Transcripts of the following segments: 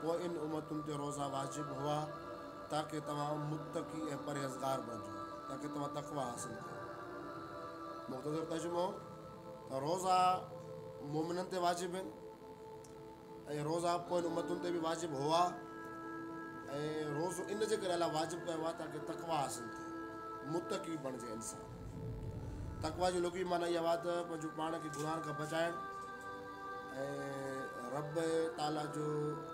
پوء ان امتن تي روزا واجب هئا تاڪه توهان متقي ۽ پرهيزگار بڻجو، تاڪه توهان تقويٰ حاصل ڪيو. مختصر ترجمو ته روزا مؤمنن تي واجب آهن ۽ روزا پوين امتن تي به واجب هئا ۽ روزو ان جي ڪري الله واجب ڪيو آهي تاڪه تقويٰ حاصل ٿئي، متقي بڻجي انسان. تقويٰ جي لغوي معنيٰ اها آهي ته پنهنجو پاڻ کي گناهن کان بچائڻ. ۽ رب تعاليٰ جو،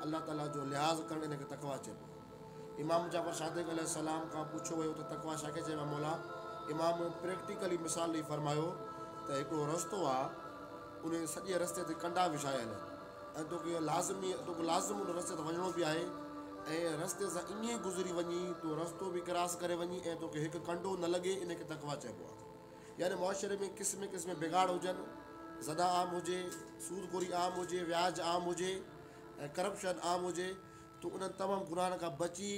الله تعاليٰ جو، لحاظ ڪرڻ ان کي تقويٰ چئبو آهي. امام جعفر صادق عليه السلام کان پڇيو ويو ته تقويٰ ڇا کي چئبو آهي مولا؟ امام پريڪٽيڪلي مثال ڏئي فرمايو ته هڪڙو رستو آهي ان سڄي رستي تي ڪنڊا وڇايل آهن ۽ توکي لازمي توکي لازم ان رستي تان وڃڻو به آهي ۽ رستي سان ائين گذري وڃي تو رستو به ڪراس ڪري وڃي ۽ توکي هڪ ڪنڊو نه لڳي ان کي تقويٰ چئبو آهي. يعني معاشري ۾ قسمين قسمين بگاڙ هجن، زنا عام هجي، سود خوري عام هجي، وياج عام هجي ۽ ڪرپشن عام هجي تون انهن تمام گناهن کان بچي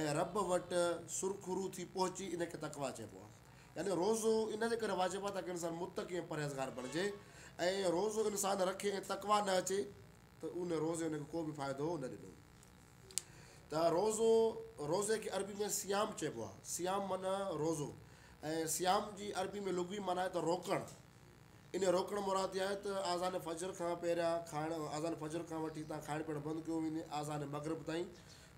۽ رب وٽ سرخرو ٿي پهچي ان کي تقويٰ چئبو آهي. يعني روزو ان جي ڪري واجب آهي تاڪه انسان متقي ۽ پرهيزگار بڻجي ۽ روزو انسان رکي ۽ تقويٰ نه اچي ته ان روزي ان کي ڪو به فائدو نه ڏنو. ته روزو، روزي کي عربي ۾ صيام چئبو آهي، صيام معنيٰ روزو ۽ صيام جي عربي ۾ لغوي معنيٰ آهي ته روڪڻ، انهيء روڪڻ مراد اها آهي ته آذان فجر کان پهريان کائڻ، آذان فجر کان وٺي تان کائڻ پيئڻ بند ڪيو وڃي، آذان مغرب تائين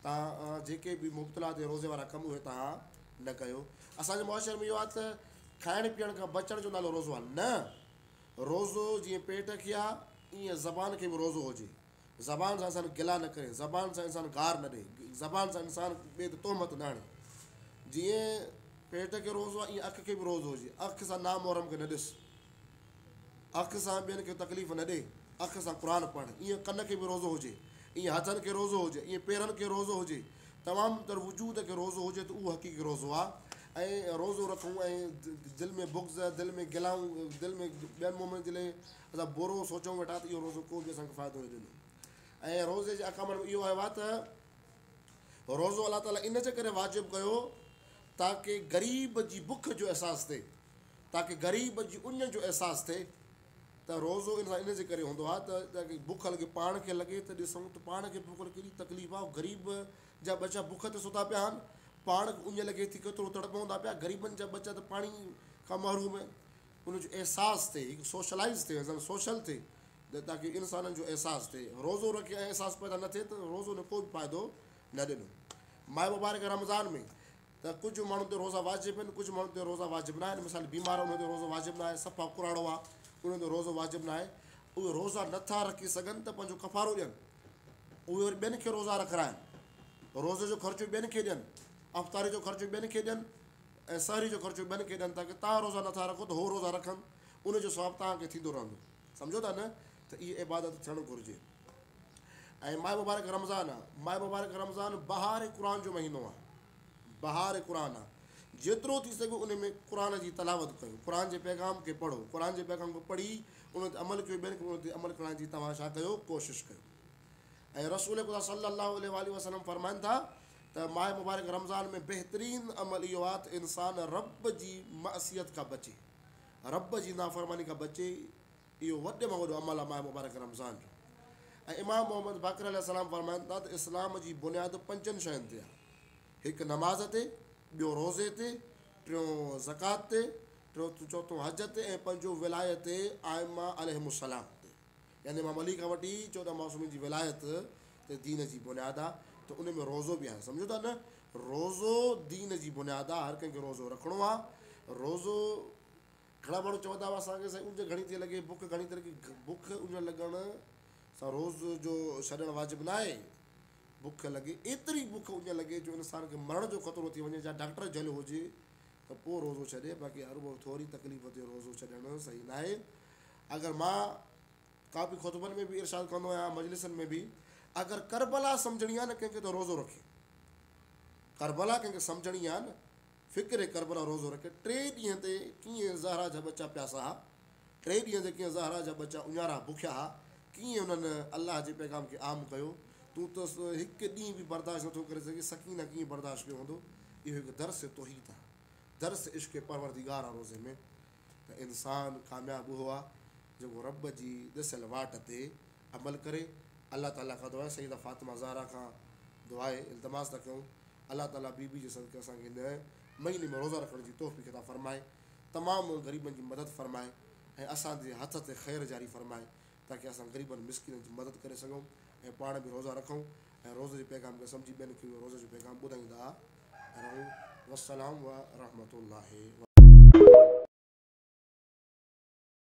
تان جيڪي به مبتلا تي روزي وارا ڪم اهي تان نه ڪيو، اسان جي معاشري ۾ اهو آهي ته کائڻ پيئڻ کان بچڻ جو نالو روزو آهي، نه، روزو جيئن پيٽ کي آهي، ايئن زبان کي به روزو هجي، زبان سان انسان گلا نه ڪري، زبان سان انسان گار نه ڏئي، زبان سان انسان ٻئي تي تهمت نه هڻي. جيئن پيٽ کي روزو آهي، ايئن اک کي به روزو هجي. اک سان نامحرم کي نه ڏس. اک سان ٻين کي تڪليف نه ڏي. اک سان قرآن پڙهه. ايئن ڪن کي به روزو هجي. ايئن هٿن کي روزو هجي. ايئن پيرن کي روزو هجي. تمام تر وجود کي روزو هجي ته اهو حقيقي روزو آهي. ۽ روزو رکون ۽ دل ۾ بغض، دل ۾ گلائون، دل ۾ ٻين مؤمنن جي لاء اسان بورو سوچون ويٺا ته اهو روزو ڪو به اسان کي فائدو نه ڏيندو ۽ روزي جي احڪام ۾ اهو آيو آهي ته روزو الله تعاليٰ ان جي ڪري واجب ڪيو تاڪه غريب جي بک جو احساس ٿئي، تاڪه غريب جي اڃ جو احساس ٿئي ته روزو انسان ان جي ڪري هوندو آهي ته جيڪي بک لڳي پاڻ کي لڳي ته ڏسون ته پاڻ کي بک لڳي ڪيڏي تڪليف آهي غريب جا ٻچا بک تي ستا پيا آهن، پاڻ کي اڃ لڳي ٿي ڪيترو تڙپون ٿا پيا، غريبن جا ٻچا ته پاڻي کان محروم آهن، ان جو احساس ٿئي، هڪ سوشلائيز ٿئي، ازل سوشل ٿئي ته تاڪي انسانن جو احساس ٿئي. روزو رکي ۽ احساس پيدا نه ٿئي ته روزو نه ڪو به فائدو نه ڏنو. ماه مبارڪ رمضان ۾ ته ڪجهه ماڻهن تي روزا واجب آهن، ڪجهه ماڻهن تي روزا واجب ناهن، مثال بيمار انهن تي روزو واجب ناهي، صفا ڪراڙو آهي انهن تي روزو واجب ناهي، اهي روزا نه ٿا رکي سگهن ته پنهنجو ڪفارو ڏين، اهي وري ٻين کي روزا رکرائن، روزي جو خرچو ٻين کي ڏين، افطاري جو خرچو ٻين کي ڏين. ۽ سحري جو خرچو ٻين کي ڏين ٿا ڪي توهان روزا نٿا رکو ته هو روزا رکن ان جو ثواب توهان کي ٿيندو رهندو سمجهو ٿا نه ته اهي عبادت ٿيڻ گهرجي ۽ ماه مبارڪ رمضان آ ماه مبارڪ رمضان بهار قرآن جو مهينو آ بهار قرآن آ جيترو ٿي سگهي ان ۾ قرآن جي تلاوت ڪيو قرآن جي پيغام کي پڙهو قرآن جي پيغام کي پڙهي ان تي عمل ڪيو ٻين کي ان تي عمل ڪرائڻ جي توهان ڇا ڪيو ڪوشش ڪيو ۽ رسول خدا صلّي اللّٰه عليه واٰله وسلّم فرمائن ٿا ته ماه مبارڪ رمضان ۾ بهترين عمل اهو آهي ته انسان ربّ جي معصيت کان بچي، ربّ جي نافرماني کان بچي، اهو وڏي مان وڏو عمل آهي ماه مبارڪ رمضان جو ۽ امام محمّد باقر عليه السّلام فرمائن ٿا ته اسلام جي بنياد پنچن شين تي آهي، هڪ نماز تي، ٻيو روزي تي، ٽيون زڪوات تي، ٽيون چوٿون حج تي ۽ پنجون ولايه تي ائمّه عليهم السّلام تي. يعني امام علي کان وٺي چوڏهن معصومين جي ولايت ته دين جي بنياد آ ته ان ۾ روزو به آهي سمجهو ٿا نه روزو دين جي بنياد آ هر ڪنهن کي روزو رکڻو آ روزو گهڻا ماڻهو چوندا هئا اسان کي سائين اونج گهڻي ٿي لڳي بک گهڻي ٿي لڳي بک اونج لڳڻ سان روز جو ڇڏڻ واجب نه آهي بک لڳي ايتري بک اونج لڳي جو انسان کي مرڻ جو خطرو ٿي وڃي جا ڊاڪٽر جهل هجي ته پوء روزو ڇڏي باقي هر ٿوري تڪليف تي روزو ڇڏڻ صحيح نه آهي اگر مان ڪافي خطبن ۾ به ارشاد ڪندو آهيان مجلسن ۾ به اگر ڪربلا سمجھڻي آهي نه ڪنهن کي ته روزو رکي ڪربلا ڪنهن کي سمجھڻي آهي نه فڪر ڪربلا روزو رکي ٽي ڏينهن تي ڪيئن زهرا جا ٻچا پياسا ها ٽي ڏينهن تي ڪيئن زهرا جا ٻچا اڃارا بکيا ها ڪيئن انهن الله جي پيغام کي عام ڪيو تون ته هڪ ڏينهن به برداشت نٿو ڪري سگهين سڪينه ڪيئن برداشت ڪيو هوندو اهو هڪ درس توحيد آهي درس عشق پروردگار آهي روزي ۾ ته انسان ڪامياب اهو آهي جيڪو رب جي ڏسيل واٽ تي عمل ڪري. الله تعالي کان دعا آهي سيده فاطمه زهرا کان دعا آهي التماس ٿا ڪيون الله تعالي بي بي جي صدقي اسان کي هن مهيني ۾ روزا رکڻ جي توفيق عطا فرمائي تمام غريبن جي مدد فرمائي ۽ اسان جي هٿ تي خير جاري فرمائي تاڪه اسان غريبن مسڪينن جي مدد ڪري سگهون ۽ پاڻ به روزا رکون ۽ روزي جي پيغام کي سمجهي ٻين کي به روزي جو پيغام ٻڌائيندا رهون والسلام ورحمة الله وبرڪاته.